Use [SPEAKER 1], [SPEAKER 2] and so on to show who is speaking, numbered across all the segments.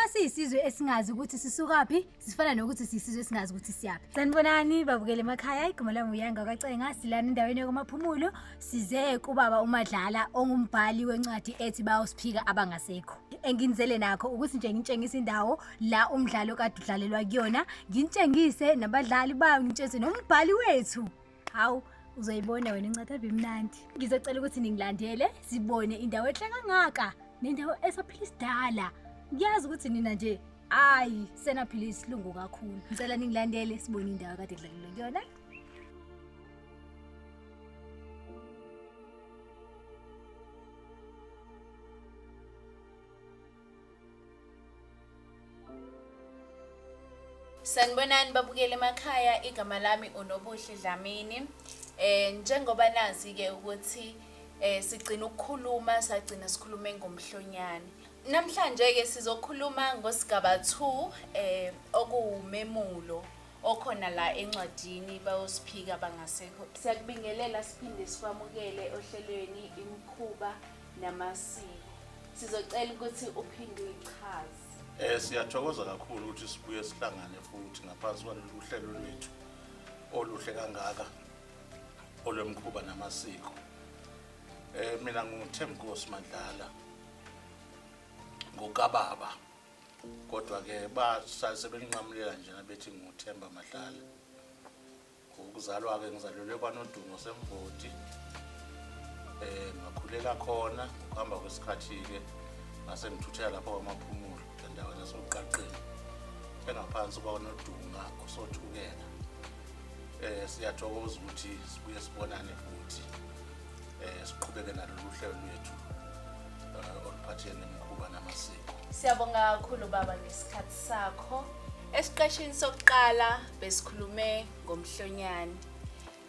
[SPEAKER 1] Uma siyisizwe esingazi ukuthi sisukaphi, sifana nokuthi siyisizwe esingazi ukuthi siyaphi. Sanibonani babukele emakhaya, igama lami uYanga kaCenga, silana endaweni yokumaphumulo, size kubaba uMadlala ongumbhali wencwadi ethi bawusiphika abangasekho. Enginizele nakho ukuthi nje ngintshengise indawo la umdlalo kade udlalelwa kuyona, ngintshengise nabadlali bayo, ngintshengise nombhali wethu. hawu uzoyibona wena incathabe imnandi ngizocela ukuthi ningilandele sibone indawo enhle kangaka nendawo esaphila isidala ngiyazi ukuthi nina nje ayi senaphila isilungu kakhulu ngicela ningilandele sibone indawo kade kudlalelwe kuyona
[SPEAKER 2] Sanibonani babukeli emakhaya igama lami uNobuhle Dlamini eh njengoba nazi ke ukuthi eh sigcina ukukhuluma sagcina sikhulume ngomhlonyane namhlanje ke sizokhuluma ngosigaba 2 eh okuwumemulo okhona la encwadini bayosiphika bangasekho siyakubingelela siphinde sikwamukele ohlelweni imkhuba namasiko. Sizocela ukuthi uphinde uyichaze. Eh siyathokoza
[SPEAKER 3] kakhulu ukuthi sibuye sihlangane futhi ngaphansi kwalolu hlelo lwethu oluhle kangaka olwemkhuba namasiko. Eh mina nguThembinkosi Mandlala ngokababa kodwa ke basase belinqamulela njena bethi nguThemba Madlala. Ukuzalwa-ke ngizalelwe kwaNodungo Semvoti eh ngakhulela khona ukuhamba kwesikhathi-ke ngase ngithuthela lapho kwamaphumulo endaweni yasoqaqeni engaphansi kwaNodunga osothukela eh siyathokoza ukuthi sibuye sibonane futhi Eh siqhubeke nalolu hlelo lwethu eh, oluphathele nemikhuba namasiko. Siyabonga kakhulu
[SPEAKER 2] baba ngesikhathi sakho. Esiqeshini sokuqala besikhulume ngomhlonyane.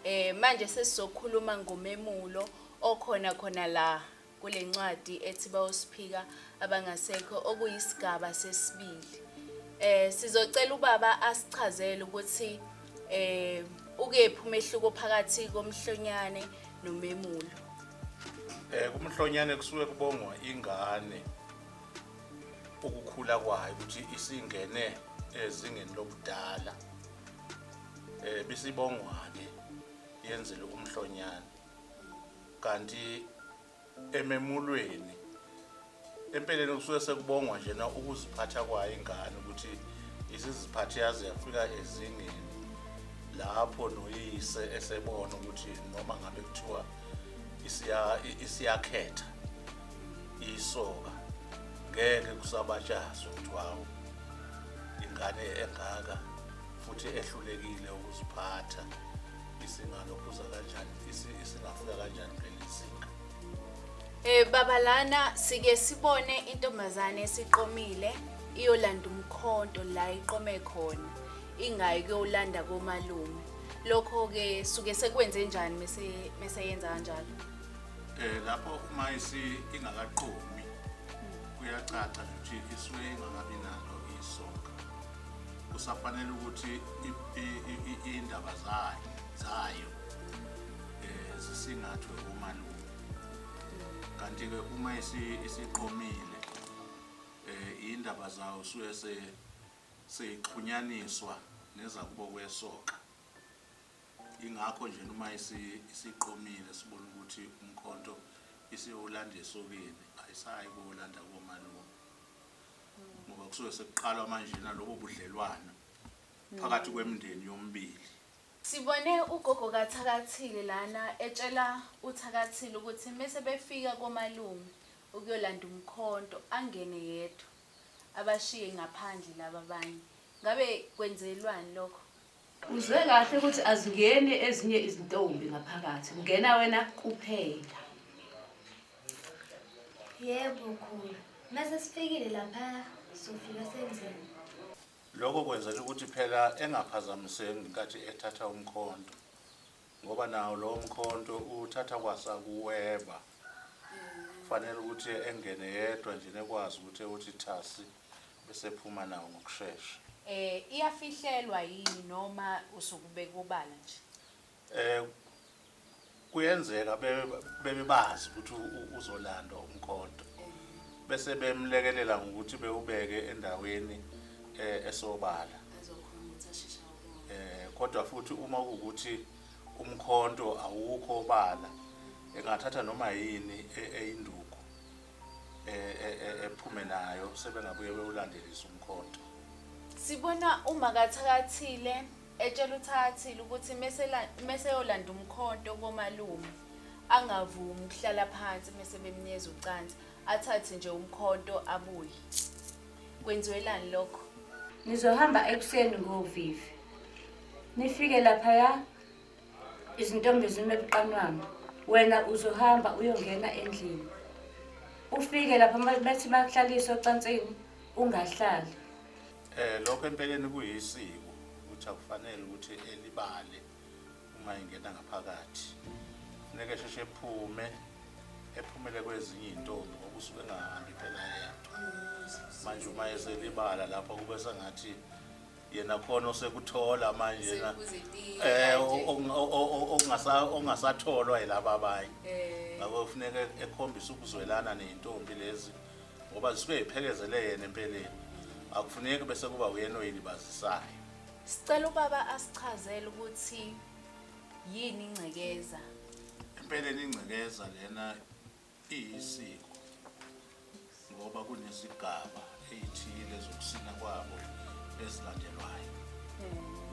[SPEAKER 2] Eh manje sesizokhuluma ngomemulo okhona khona la kule ncwadi ethi bawosiphika abangasekho okuyisigaba sesibili. Eh sizocela ubaba asichazele ukuthi Eh ukephi umehluko phakathi komhlonyane nomemulo? Eh
[SPEAKER 3] kumhlonyane kusuke kubongwa ingane ukukhula kwayo ukuthi isingene ezingeni lobudala. Eh bisibongwane yenzele umhlonyane. Kanti ememulweni empeleni kusuke sekubongwa njena ukuziphatha kwayo ingane ukuthi isiziphathe yaze yafika ezingeni lapho noyise esebona ukuthi noma ngabe kuthiwa isiyakhetha isoka ngeke kusabatshazwa ukuthi wawu ingane engaka futhi ehlulekile ukuziphatha Isingalophuza kanjani? Isingafika kanjani kuleli zinga? Eh
[SPEAKER 2] baba lana sike sibone intombazane esiqomile iyolanda umkhonto la iqome khona ingayi kuyolanda komalume lokho ke suke sekwenze njani mese mese yenza kanjalo eh lapho
[SPEAKER 3] uma isi ingakaqomi kuyacaca ukuthi isuke ingakabi nalo isoka kusafanele ukuthi iy'ndaba zayo um zisingathwe umalume kanti-ke uma isiqomile um iy'ndaba zawo suke seyixhunyaniswa nezakubo kwesoka ingakho nje noma isiqomile sibona ukuthi umkhonto isiwulanda esokeni ayisayi kuwulanda komalume ngoba kusuke sekuqalwa manjena lobo budlelwano phakathi kwemndeni yomibili. Sibone
[SPEAKER 2] ugogo kaThakathile lana etshela uThakathile ukuthi mese befika komalume ukuyolanda umkhonto angene yedwa abashiye ngaphandle laba abanye. Ngabe kwenzelwani lokho? Uzwe kahle
[SPEAKER 4] ukuthi azingeni ezinye izintombi ngaphakathi, kungena wena kuphela. Yebo
[SPEAKER 1] khulu. Mase sifikile lapha sofika senzeni. Lokho
[SPEAKER 3] kwenzela ukuthi phela engaphazamiseki ngenkathi ethatha umkhonto ngoba nawo lowo mkhonto uthatha kwasakuweba kufanele ukuthi engene yedwa nje nekwazi ukuthi ewuthi thasi Bese ephuma nawo ngokushesha. Eh iyafihlelwa
[SPEAKER 2] yini noma usuke ubeka obala nje? Eh
[SPEAKER 3] kuyenzeka bebe bazi ukuthi uzolanda umkhonto bese bemlekelela ngokuthi bewubeke endaweni eh, esobala eh kodwa futhi uma ukuthi umkhonto awukho obala engathatha noma yini e, eyinduku e, e, e, ephume nayo sebengabuye bewulandelisa umkhonto sibona
[SPEAKER 2] umakathakathile etshela uthakathile ukuthi meseyolanda umkhonto komalume angavumi ukuhlala phansi mese bemnyeza ucansi athathe nje umkhonto abuye kwenziwelani lokho ngizohamba
[SPEAKER 4] ekuseni ngovivi nifike laphaya izintombi zime buqanwanga wena uzohamba uyongena endlini ufike lapho ma- bethi bakuhlalise ocansini ungahlali Eh
[SPEAKER 3] lokho empeleni kuyisiko ukuthi akufanele ukuthi elibale uma ingena ngaphakathi. Funeka sheshe ephume ephumele kwezinye izintombi ngoba usuke engahambi phela yena. Manje uma eselibala lapho kube sengathi yena khona osekuthola manje na eh ongasatholwa yilaba abanye eh. ngakho kufuneka ekhombise ukuzwelana nezintombi lezi ngoba zisuke ziphekezele yena empeleni akufuneki bese kuba uyena oyilibazisayo sicela
[SPEAKER 2] ubaba asichazele ukuthi yini ingcekeza empeleni
[SPEAKER 3] ingcekeza lena Iyisiko ngoba kunezigaba ey'thile zokusina kwabo ezilandelwayo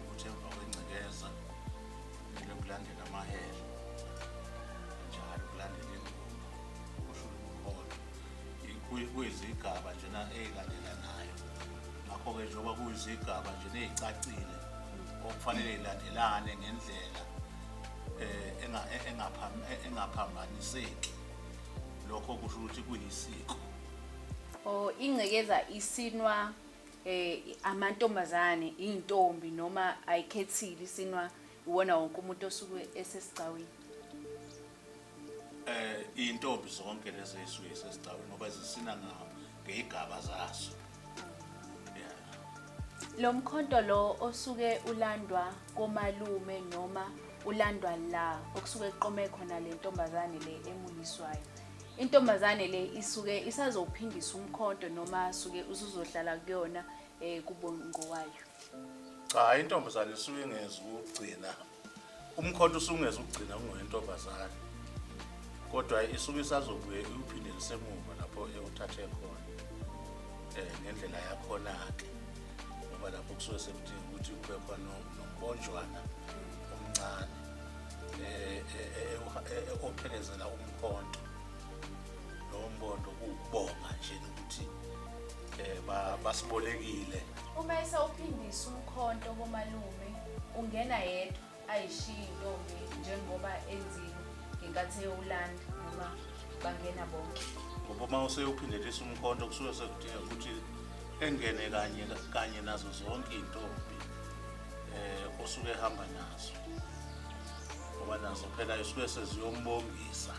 [SPEAKER 3] ukuthi emva kwengcekeza kumele kulandele amahele njalo kulandele ingoma kusho umholo kuyizigaba njena ey'landelanayo ngakho-ke njengoba kuyizigaba njena ey'cacile okufanele y'landelane ngendlela eh, eh, eh, engaphambaniseki lokho kusho ukuthi kuyisiko o ingcekeza
[SPEAKER 2] isinwa eh amantombazane intombi noma ayikhethile isinwa iwona wonke umuntu osuke esesigcawini
[SPEAKER 3] eh intombi zonke lezi ezisuke sesicawe ngoba zisina ngawo ngeyigaba zaso yeah
[SPEAKER 2] lo mkhonto lo osuke ulandwa komalume noma ulandwa la okusuke kuqome khona le ntombazane le emuliswayo intombazane le isuke isazophindisa umkhonto noma suke usuzohlala kuyona eh kubongowayo cha
[SPEAKER 3] intombazane isuke ingezi ukugcina umkhonto usungeza ukugcina ungowentombazane kodwa isuke isazobuye iwuphinde lisemuva lapho ewuthathe khona um ngendlela yakhona-ke ngoba lapho kusuke sekudinga ukuthi kube khona nomponjwana omncane um ophelezela umkhonto lowo mbondo kuwukubonga nje nokuthi eh ba- basibolekile Uma esawuphindisa
[SPEAKER 2] umkhonto komalume ungena yedwa ayishiyi intombi njengoba enzile ngenkathi eyowulanda noma bangena bonke. ngoba uma
[SPEAKER 3] useyophindelisa umkhonto kusuke sekudinga ukuthi engene kanye kanye nazo zonke iy'ntombi um osuke ehamba nazo ngoba nazo phela isuke seziyombongisa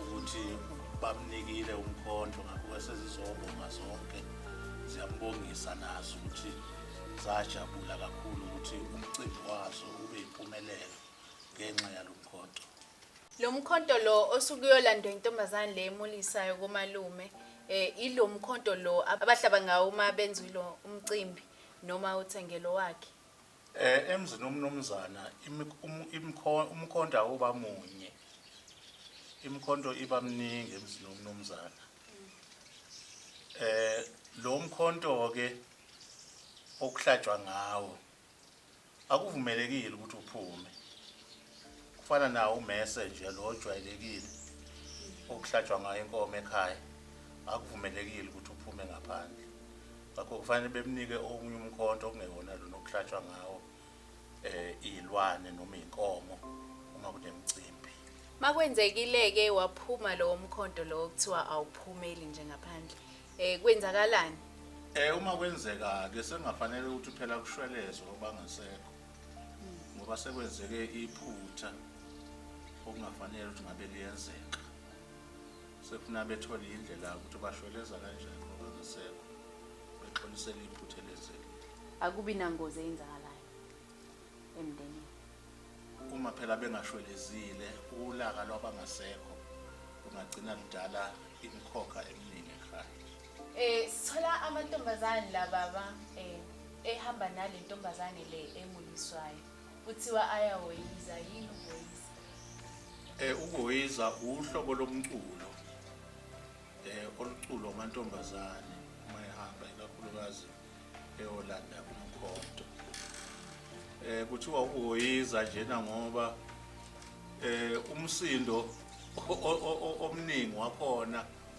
[SPEAKER 3] ukuthi bamnikile umkhonto ngakho sezizobonga zonke ziyambongisa nazo ukuthi sajabula kakhulu ukuthi umcimbi wazo ube yimpumelelo ngenxa yalo mkhonto lo
[SPEAKER 2] mkhonto lo osukuyolandwa intombazane le emulisayo komalume eh ilo mkhonto lo abahlaba ngawo uma benza lo umcimbi noma uthengelo wakhe Eh emzini
[SPEAKER 3] umnumzana umkhonto awuba munye. Imkhonto iba mningi emzini umnumzana. Eh lo mkhonto ke okuhlatshwa ngawo akuvumelekile ukuthi uphume. kufana nawo umese nje lo ojwayelekile okuhlatshwa ngayo inkomo ekhaya akuvumelekile ukuthi uphume ngaphandle ngakho kufanele bemnike okunye umkhonto okungewona lona okuhlatshwa ngawo eh izilwane noma inkomo uma kunemcimbi makwenzekile
[SPEAKER 2] ke waphuma lowo mkhonto lo kuthiwa awuphumeli nje ngaphandle eh kwenzakalani eh uma
[SPEAKER 3] kwenzeka ke sengafanele ukuthi phela kushwelezwe obangasekho ngoba sekwenzeke iphutha okungafanele ukuthi ngabe liyenzeka sekufuna bethole indlela ukuthi bashweleza kanjani ngoba ngisekho bexolisele iphutha elenzekile akubi nangozi
[SPEAKER 2] eyenzakalayo emndenini
[SPEAKER 3] uma phela bengashwelezile ulaka lwabangasekho lungagcina ludala imikhokha eminingi ekhaya um
[SPEAKER 2] sithola amantombazane la baba um ehamba nale ntombazane le emuliswayo kuthiwa ayahoyiza yini ukuhoyiza eh
[SPEAKER 3] ukuhoyiza uhlobo lomculo eh oluculo amantombazane uma ehamba ikakhulukazi eyolanda umkhonto eh kuthiwa ukuhoyiza njena ngoba eh umsindo omningi wakhona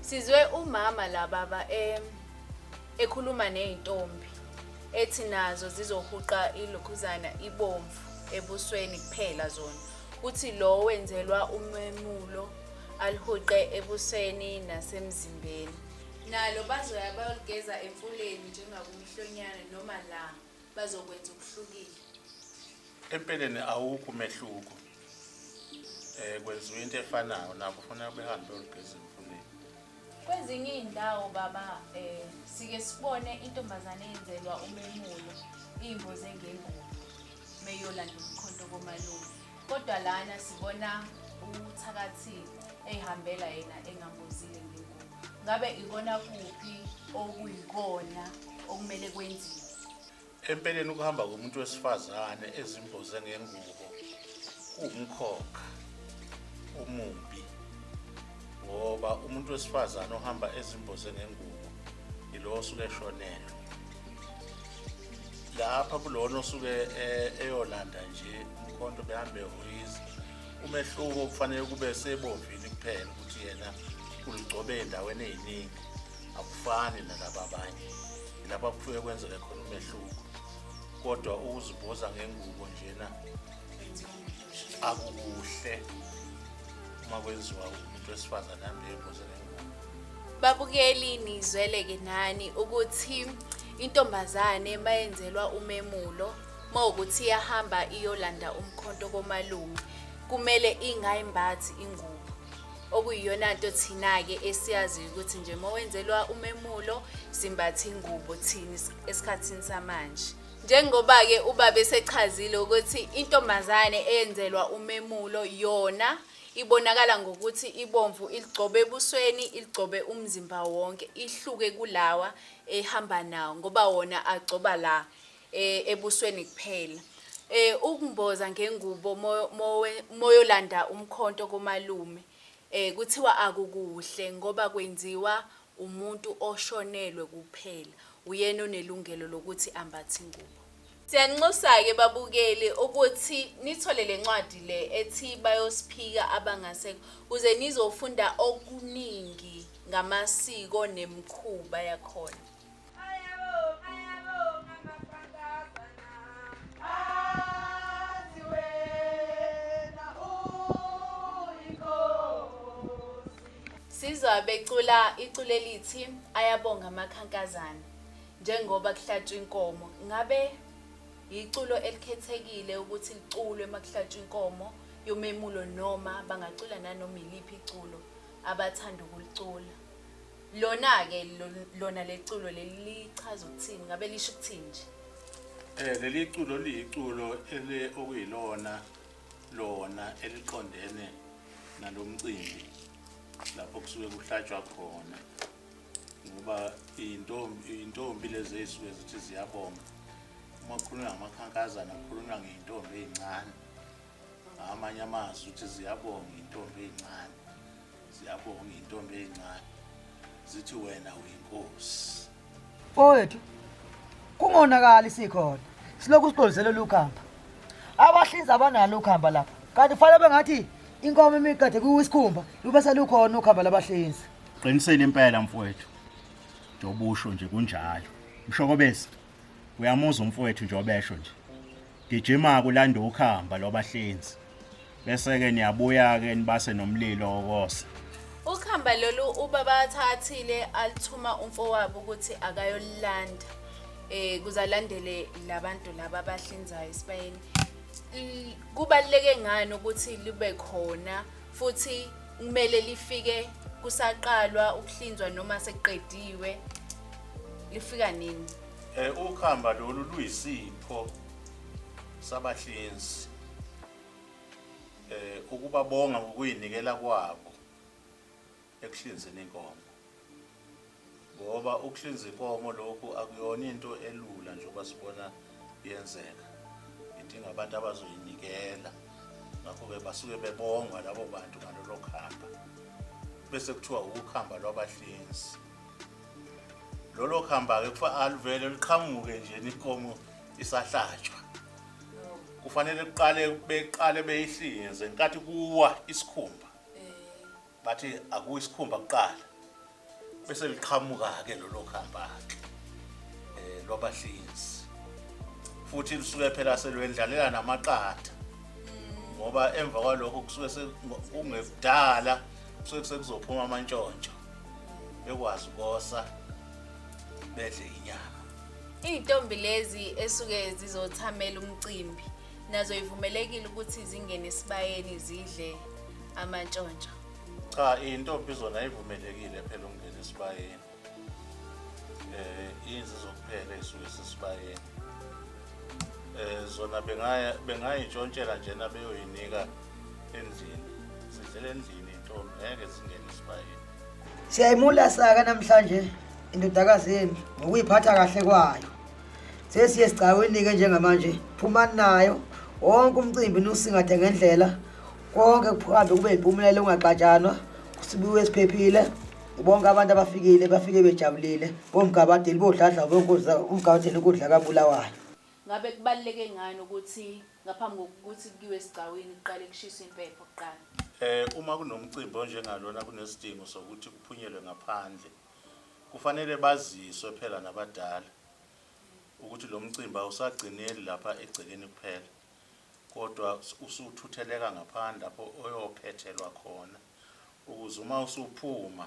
[SPEAKER 2] Sizwe umama la baba em ekhuluma nezintombi ethi nazo zizohuqa ilokhuzana ibomvu ebusweni kuphela zona. Uthi lo wenzelwa umemulo alihuqe ebusweni nasemzimbeni. Nalo bazoya bayolugeza emfuleni njengakumihlonyana noma la bazokwenza okuhlukile.
[SPEAKER 3] Empeleni awukho umehluko. Eh kwenziwa into efanayo nabo ufuna behambe olugeza emfuleni. Kwezinye
[SPEAKER 2] izindawo baba eh sike sibone intombazane yenzelwa umemulo imboze ngengubo meyolanda umkhonto komalume. Kodwa lana sibona uthakathi ehambela yena engambozile ngengubo. Ngabe ikona kuphi okuyikona okumele kwenziwe? Empeleni
[SPEAKER 3] ukuhamba komuntu wesifazane ezimboze ngengubo kuwumkhokha omubi ngoba umuntu wesifazane ohamba ezimboze ngengubo ilo osuke eshonelwe lapha kulona osuke e- eyolanda nje umkhonto behambe hoyizi umehluko kufanele kube sebovini kuphela ukuthi yena uligcobe endaweni eziningi akufani nalaba abanye lapha kufuye kwenzeke khona umehluko kodwa ukuziboza ngengubo njena akukuhle uma kwenziwa umuntu wesifazane ahambe eboze ngengubo babukeli
[SPEAKER 2] nizweleke nani ukuthi intombazane mayenzelwa umemulo mawukuthi iyahamba iyolanda umkhonto komalume kumele ingayimbathi ingubo okuyiyona nto thina-ke esiyaziyo ukuthi nje uma wenzelwa umemulo simbathe ingubo thina esikhathini samanje njengoba-ke ubaba esechazile ukuthi intombazane eyenzelwa umemulo yona ibonakala ngokuthi ibomvu iligcobe ebusweni iligcobe umzimba wonke ihluke kulawa ehamba nawo ngoba wona agcoba la eh, ebusweni kuphela eh ukumboza ngengubo mo- mowe- moyolanda umkhonto komalume eh kuthiwa akukuhle ngoba kwenziwa umuntu oshonelwe kuphela uyena onelungelo lokuthi ambathe ingubo Siyanxusa-ke babukeli ukuthi nithole le ncwadi le ethi bayosiphika abangasekho kuze nizofunda okuningi ngamasiko nemikhuba yakhona. Sizwa becula iculo elithi ayabonga amakhankazana njengoba kuhlatshwa inkomo. Ngabe yiculo elikhethekile ukuthi liculwe uma kuhlatshwa inkomo yomemulo noma bangacula nanoma yiliphi iculo abathanda ukulicula. Lona-ke lo- lona leculo leli lichaza ukuthini? Ngabe lisho ukuthini nje? Eh leli
[SPEAKER 3] culo liyiculo ele okuyilona lona eliqondene nalomcimbi lapho kusuke kuhlatshwa khona ngoba intombi intombi lezi ezisuke zithi ziyabonga uma kukhulunywa ngamakhankazana kukhulunywa ngeyintombi ezincane amanye amazwi uthi ziyabonga intombi ezincane ziyabonga intombi ezincane zithi wena uyinkosi owethu
[SPEAKER 5] kungonakali sikhona silokhu siqondisele lukhamba abahlinzi abanalo ukhamba lapha kanti fanele bengathi inkomo imiqede kuwisikhumba lube selukhona ukhamba labahlinzi qinisele impela
[SPEAKER 6] mfowethu njobusho nje kunjalo mshokobezi Uyamuza umfowethu nje obesho nje. Gijima kulanda ukhamba lobahlinzi. Bese ke niyabuya ke nibase nomlilo okose. Ukhamba
[SPEAKER 2] lolu ubaba athathile alithuma umfowabo ukuthi akayolanda. Eh kuzalandele labantu laba abahlinzayo esibayeni. Kubaleke ngani ukuthi libe khona futhi kumele lifike kusaqalwa ukuhlinzwa noma sekuqediwe lifika nini Eh ukhamba
[SPEAKER 3] lolu luyisipho sabahlinzi. Eh ukubabonga ngokuyinikela kwabo ekuhlinzeni inkomo. Ngoba ukuhlinza inkomo lokhu akuyona into elula njengoba sibona yenzeka. Idinga abantu abazoyinikela. Ngakho ke basuke bebonga labo bantu ngalolo khamba. Bese kuthiwa ukukhamba lwabahlinzi. lolo khamba-ke kufa aluvele luqhamuke nje inkomo isahlatshwa kufanele kuqale beqale beyihlinze nkathi kuwa isikhumba bathi akuwa isikhumba kuqala bese liqhamuka-ke lolo khamba-ke um lwabahlinzi futhi lusuke phela selwendlalela namaqatha ngoba emva kwalokho kusuke kungekudala kusuke sekuzophuma amantshontsho bekwazi ukosa bedle inyama iy'ntombi
[SPEAKER 2] lezi esuke zizothamela umcimbi nazo ivumelekile ukuthi zingene esibayeni zidle amantshontsho cha
[SPEAKER 3] iy'ntombi zona ivumelekile phela ukungena esibayeni um eh, inzi zokuphela ey'suke sesibayeni um eh, zona bengayintshontshela njena beyoyinika endlini sidlela endlini intombi ngeke singene isibayeni
[SPEAKER 5] siyayimulasa-ke namhlanje indodakazi yenu ngokuyiphatha kahle kwayo sesiye sigcawini-ke njengamanje phumani nayo wonke umcimbi niwusingathe ngendlela konke kuhambe kube yimpumelelo ungaxatshanwa kusibiwe esiphephile bonke abantu abafikile bafike bejabulile bomgabadeli bodladla umgabadeli ukudla kabulawayo ngabe kubaluleke
[SPEAKER 2] ngani ukuthi Ngaphambi kokuthi kuyiwe esigcawini kuqale kushiswe impepho kuqala. Um uma kunomcimbi
[SPEAKER 3] onjengalona kunesidingo sokuthi kuphunyelwe ngaphandle, kufanele baziswe phela nabadala ukuthi lo mcimbi awusagcineli lapha egcekeni kuphela kodwa usuthutheleka ngaphandle lapho oyophethelwa khona ukuze uma usuphuma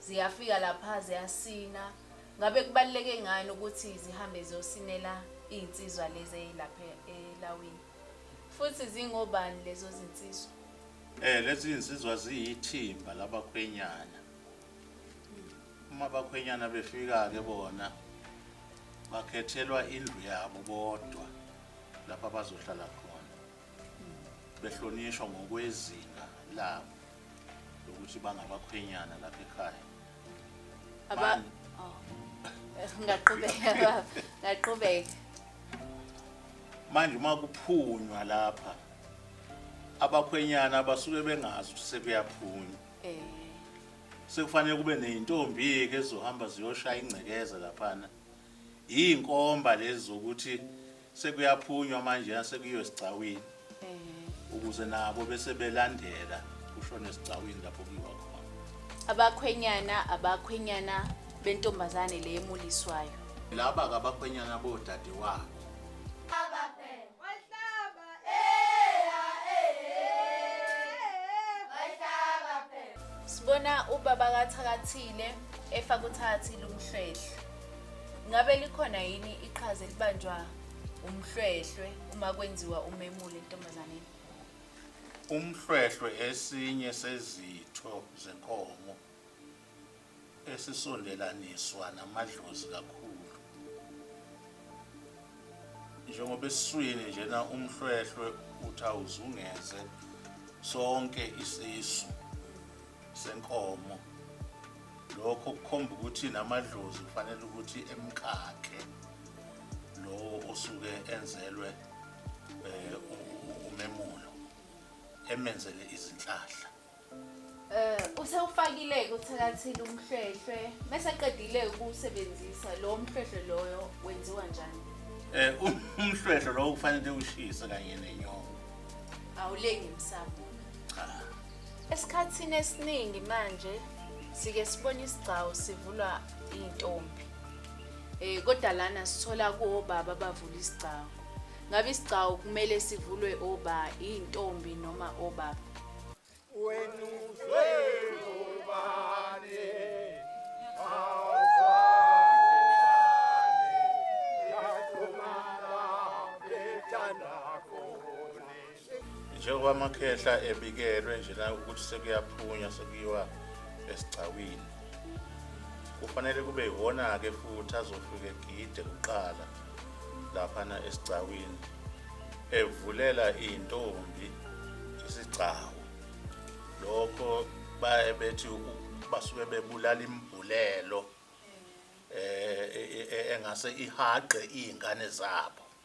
[SPEAKER 2] Ziyafika lapha ziyasina. Ngabe kubaluleke ngani ukuthi zihambe ziyosinela iy'nsizwa lezi ey'lapha elawini? Futhi zingobani lezo zinsizwa? Eh lezi
[SPEAKER 3] zinsizwa ziyithimba labakhwenyana. Uma abakhwenyana befika-ke bona bakhethelwa indlu yabo bodwa lapho abazohlala khona behlonishwa ngokwezinga labo. lokuthi bangabakhwenyana lapha ekhaya Aba Manje, oh.
[SPEAKER 2] Ngaqhubeka baba, ngaqhubeka.
[SPEAKER 3] manje uma kuphunywa lapha abakhwenyana abasuke bengazi ukuthi sekuyaphunywa Eh. sekufanele kube neyintombi-ke ezizohamba ziyoshaya ingcekeza laphana iy'nkomba lezi zokuthi Sekuyaphunywa manje sekuyiwe esigcawini ukuze nabo bese belandela kushone esigcawini lapho kuyiwa khona. Abakhwenyana abakhwenyana
[SPEAKER 2] bentombazane le emuliswayo. Laba
[SPEAKER 3] kabakhwenyana bodade wabo.
[SPEAKER 2] Sibona ubaba kaThakathile efaka uthathi lumhlwehle. Ngabe likhona yini iqhaza elibanjwa umhlwehlwe uma kwenziwa umemulo entombazaneni? Umhlwehlwe
[SPEAKER 3] esinye sezitho zenkomo esisondelaniswa namadlozi kakhulu. Njengoba esiswini njena umhlwehlwe uthi awuzungeze sonke isisu senkomo lokho kukhomba ukuthi namadlozi kufanele ukuthi emkakhe lowo osuke enzelwe eh, umemulo emenzele izinhlahla eh
[SPEAKER 2] usewufakile kuthakathile umhlwehlwe bese qedile ukusebenzisa lo mhlwehlwe loyo wenziwa njani eh um,
[SPEAKER 3] umhlwehlwe lowo kufanele ushise kanye nenyongo awulengi
[SPEAKER 2] msamo cha
[SPEAKER 3] Esikhathini
[SPEAKER 2] esiningi manje sike sibone isigcawu sivulwa iy'ntombi um kodwa lana sithola kuwobaba abavula isigcawu ngabe isigcawu kumele sivulwe oba iy'ntombi noma obaba wenu
[SPEAKER 3] njengoba amakhehla ebikelwe njena ukuthi sekuyaphunywa sekuyiwa esigcawini kufanele kube yiwona-ke futhi azofika egide kuqala laphana esigcawini evulela iy'ntombi isigcawu lokho baye bethi basuke bebulala imbulelo eh e, e, e, engase ihaqe iy'ngane zabo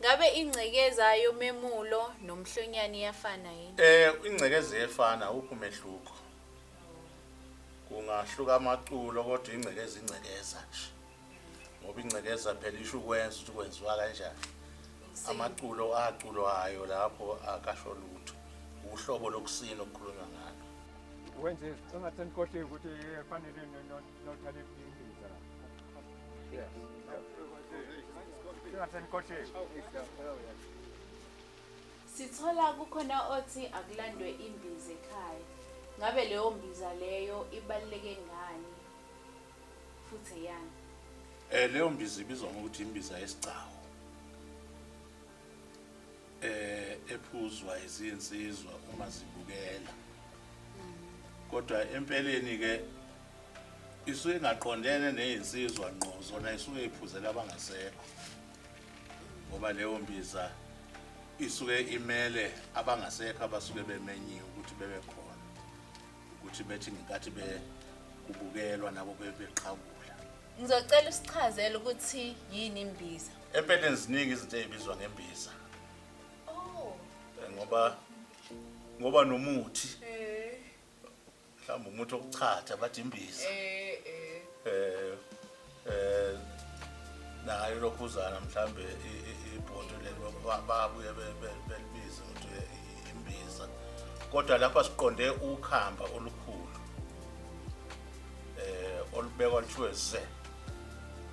[SPEAKER 2] Ngabe ingcekeza yomemulo nomhlonyane iyafana yini? Eh ingcekeza
[SPEAKER 3] iyefana uphi umehluko? Kungahluka amaculo kodwa ingcekeza ingcekeza nje. ngoba ingcekeza phela isho ukwenza ukuthi kwenziwa kanjani amaculo aculwayo lapho akasho lutho uhlobo lokusina okukhulunywa ngalo wenze
[SPEAKER 7] sengathi nikhohliwe ukuthi fanele nothale ibhindiza sengathi nikhohliwe
[SPEAKER 2] sithola kukhona othi akulandwe imbiza ekhaya ngabe leyo mbiza leyo ibaluleke ngani futhi eyami eh leyo
[SPEAKER 3] mbiza ibizwa ngokuthi imbiza yesigcawu eh ephuzwa izinsizwa uma zibukela kodwa empeleni ke isuke ingaqondene nezinsizwa ngqo zona isuke iphuzela abangasekho ngoba leyo mbiza isuke imele abangasekho abasuke bemenyiwe ukuthi bebe khona ukuthi bethi ngenkathi be kubukelwa nabo bebeqhawula ngizocela
[SPEAKER 2] usichazele ukuthi yini imbiza empeleni ziningi
[SPEAKER 3] izinto ezibizwa ngembiza oh eh, ngoba ngoba nomuthi eh mhlawumbe umuthi okuchatha bathi imbiza eh eh eh eh nayo lokhuzana mhlambe ibhodo lelo babuye belibize ukuthi imbiza kodwa lapha siqonde ukhamba olukhulu eh olubekwa kuthiwe ze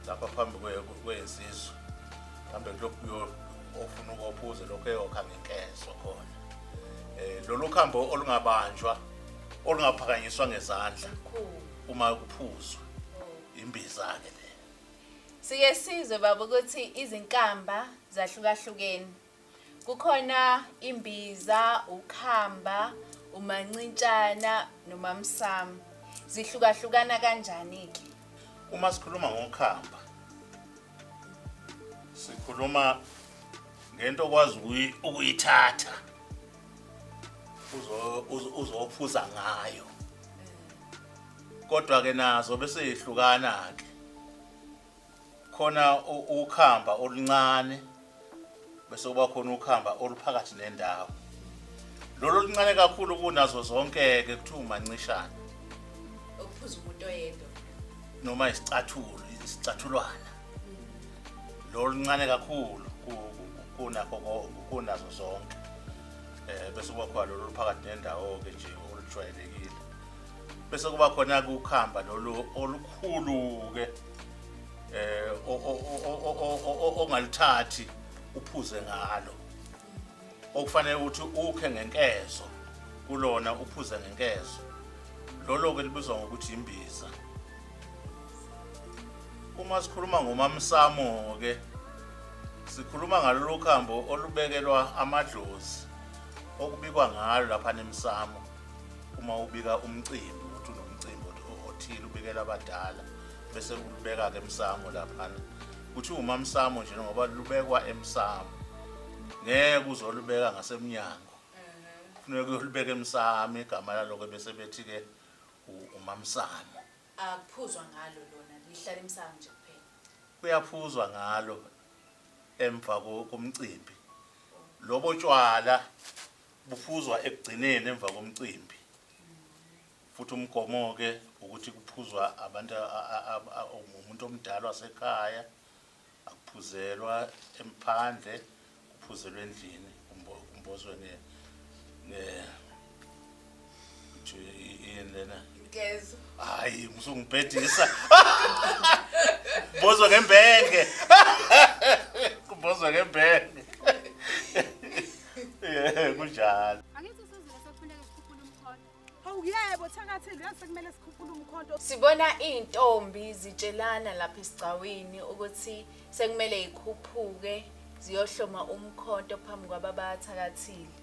[SPEAKER 3] lapha phambi kwezizwe mhlambe kulokuyo ofuna ukophuze lokho eyokha ngenkezo khona eh lolu khambo olungabanjwa olungaphakanyiswa ngezandla uma kuphuzwa Imbiza-ke le. Sike
[SPEAKER 2] sizwe baba ukuthi izinkamba zahlukahlukene. Kukhona imbiza, ukhamba, umancintshana nomamsamo. Zihlukahlukana kanjani-ke? Uma sikhuluma
[SPEAKER 3] ngokhamba sikhuluma ngento okwazi ukuyi- ukuyithatha uzo- uzo- uzophuza ngayo kodwa ke nazo bese yehlukana ke khona ukhamba oluncane bese kuba khona ukhamba oluphakathi nendawo lolu oluncane kakhulu kunazo zonke ke kuthiwa umancishana
[SPEAKER 2] ukuphuza umuntu oyedwa noma
[SPEAKER 3] isicathulo isicathulwana lolu ncane kakhulu kunakho kunazo zonke eh bese kuba khona lolu phakathi nendawo ke nje olujwayelekile bese kuba khona ke ukhamba lolu olukhulu ke eh ongaluthathi uphuze ngalo okufanele ukuthi ukhe ngenkezo kulona uphuze ngenkezo lolo ke libizwa ngokuthi imbiza uma sikhuluma ngomamsamo ke sikhuluma ngalolu khambo olubekelwa amadlozi okubikwa ngalo lapha nemsamo uma ubika umcimbi ukuthi unomcimbi othile ubikela abadala bese ulubeka-ke emsamo laphana kuthiwa umamsamo nje ngoba lubekwa emsamo ngeke uzolubeka ngasemnyango kufuneka uyolubeka emsamo igama laloko bese bethi-ke umamsamo akuphuzwa
[SPEAKER 2] ngalo lona lihlala emsamo nje kuphela kuyaphuzwa
[SPEAKER 3] ngalo emva komcimbi lobo tshwala Buphuzwa ekugcineni emva komcimbi. Futhi umgomo-ke ukuthi kuphuzwa abantu umuntu omdala wasekhaya, akuphuzelwa emphandle, kuphuzelwa endlini kumbozwe nge yini lena ngezo
[SPEAKER 2] hayi
[SPEAKER 3] musungibhedisa bozwa ngembenge kubozwa ngembenge eh kunjalo angithi sizile sekufuneka sikhuphule
[SPEAKER 1] umkhondo hawu yebo
[SPEAKER 8] thakathi ngiyazi sekumele sikhuphule umkhondo sibona izintombi
[SPEAKER 2] zitshelana lapha esigcawini ukuthi sekumele ikhuphuke ziyohloma umkhonto phambi kwababathakathile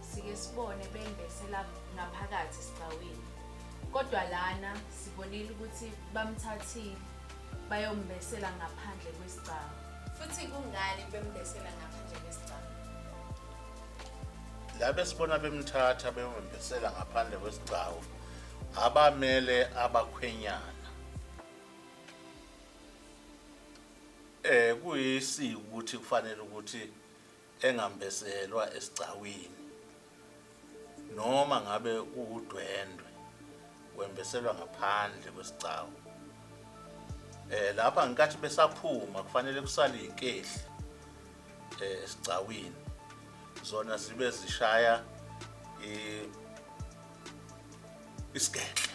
[SPEAKER 2] Sike sibone bembesela ngaphakathi esigcawini. Kodwa lana sibonile ukuthi bamthathile bayombesela ngaphandle kwesigcawu. Futhi kungani bembesela ngaphandle kwesigcawu?
[SPEAKER 3] Labe sibona bemthatha beyombesela ngaphandle kwesigcawu abamele abakhwenyana. eh kuyisiko ukuthi kufanele ukuthi engambezelwa esigcawini noma ngabe kuwudwendwe wembeselwa ngaphandle kwesigcawu eh lapha ngenkathi besaphuma kufanele kusale izinkehli eh, esigcawini zona zibe zishaya isigedle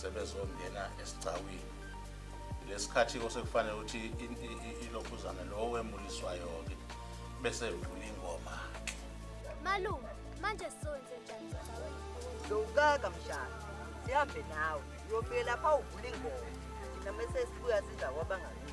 [SPEAKER 3] sebezongena esigcawini lesikhathi osekufanele ukuthi ilokhuzana lowo wemuliswayo-ke bese evula ingoma malume
[SPEAKER 1] manje sonze njani sigcawini zowukaka
[SPEAKER 9] mshana sihambe nawe uyofike lapha uvula ingoma thina mese sibuya siza kwabangakithi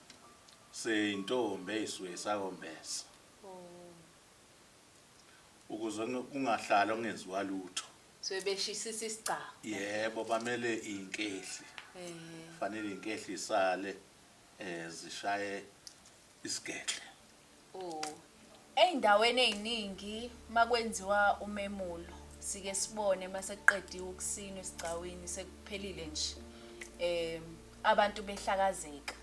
[SPEAKER 3] Seyintombi eyisuke isakombesa ukuze kungahlali ongenziwa lutho. Suke beshisisa
[SPEAKER 2] isigcawu. Yebo bamele
[SPEAKER 3] inkehli. Ehe. Fanele inkehli isale eh zishaye isigedle.
[SPEAKER 2] Ezindaweni eziningi makwenziwa umemulo sike sibone masekuqediwe ukusinwa esigcawini sekuphelile nje um abantu behlakazeka.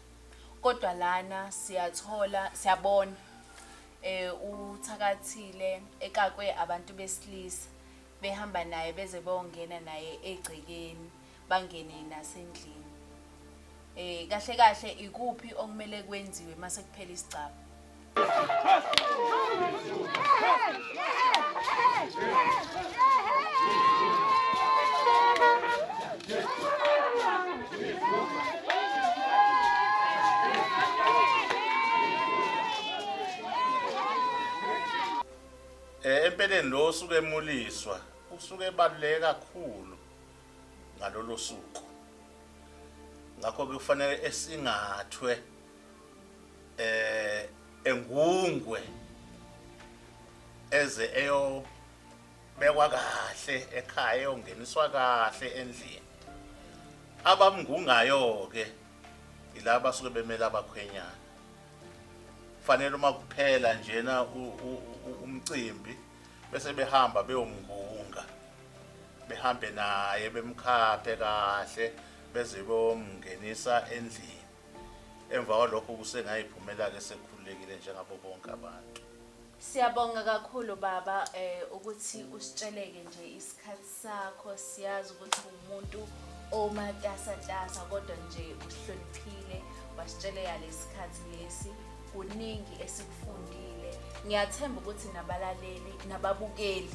[SPEAKER 2] Kodwa lana siyathola siyabona um uthakathile ekakwe abantu besilisa behamba naye beze beyongena naye egcekeni. bangene nasendlini eh kahle kahle ikuphi okumele kwenziwe mase kuphela isigcaba
[SPEAKER 3] Eh empeleni lo osuke emuliswa usuke ebaluleke kakhulu ngalolo suku ngakho ke kufanele esingathwe eh engungwe eze eyobekwa kahle ekhaya eyongeniswa kahle endlini abamngungayo ke ilaba suke bemela abakhwenyana fanele uma kuphela njena umcimbi bese behamba beyomngunga behambe naye bemkhaphe kahle beze bomngenisa endlini emva kwalokho kusengayiphumela-ke sekhululekile njengabo bonke abantu Siyabonga
[SPEAKER 2] kakhulu baba eh ukuthi usitsheleke nje isikhathi sakho siyazi ukuthi umuntu omatasa tasa kodwa nje uhloniphile wasitsheleka lesikhathi lesi kuningi esikufundile ngiyathemba ukuthi nabalaleli nababukeli